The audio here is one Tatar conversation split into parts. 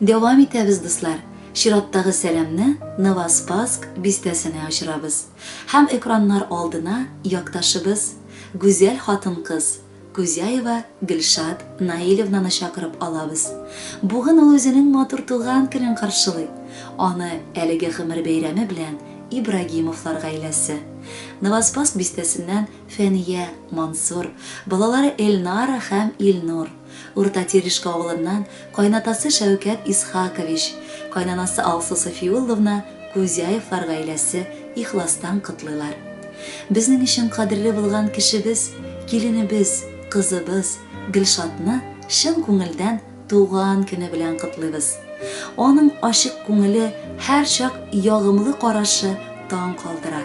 Дәвам итәбез, дуслар. Чираттагы сәламне Новоспаск бистәсенә очырабыз һәм экраннар алдына якташыбыз, гүзәл хатын-кыз Кузяева Гөлшат Наилевнаны чакырып алабыз. Бүген ул үзенең матур туган көнен каршылый. Аны әлеге гомер бәйрәме белән Ибрагимовлар гаиләсе. Новоспаск бистәсеннән Фәния, Мансур, балалары Эльнара һәм Илнур. Урта Телишка авылыннан кайнатасы Шәүкәт Исхакович, кайнанасы Алсу Сафиулловна Кузяевлар гаиләсе ихластан котлыйлар. Безнең өчен кадерле булган кешебез, киленебез, кызыбыз Гөлшатны чын күңелдән туган көне белән котлыйбыз! Аның ачык күңеле, һәрчак ягымлы карашы таң калдыра.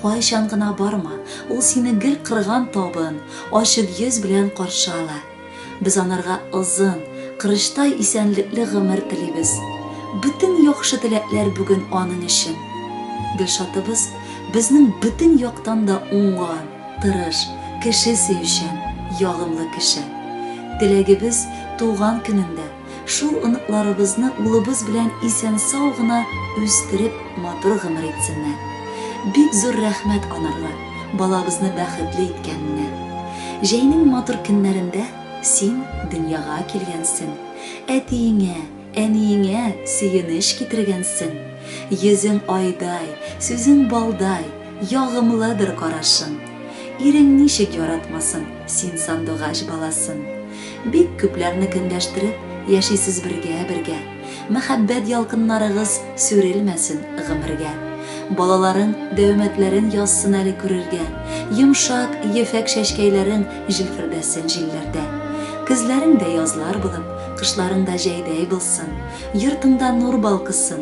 Кайчан гына барма, ул сине гел кырган табын, ачык йөз белән каршы ала. Без анарга озын, кырычтай исәнлекле гомер телибез. Бөтен яхшы теләкләр бүген аның өчен. Гөлшатыбыз безнең бөтен яктан да уңган, тырыш, кеше сөючән, ягымлы кеше. Теләгебез, туган көнендә, Шул оныкларыбызны улыбыз белән исән-сау гына үстереп, матур гомер итсеннәр. Бик зур рәхмәт анарга, балабызны бәхетле иткәненә. Җәйнең матур көннәрендә син дөньяга килгәнсең, әтиеңә, әниеңә сөенеч китергәнсең. Йөзең айдай, сүзең балдай, ягымлыдыр карашың. Ирең ничек яратмасын син сандугач баласын. Бик күпләрне көнләштереп Яшисез бергә, бергә. Мәхәббәт ялкыннарыгыз Сүрелмәсен гомергә. Балаларың дәүмәтләрен Язсын әле күрергә. Йомшак, ефәк чәчкәйләрең Җилфердәсен җилләрдә. Көзләрең дә язлар булып, Кышларың да җәйдәй булсын. Йортыңда нур балкысын.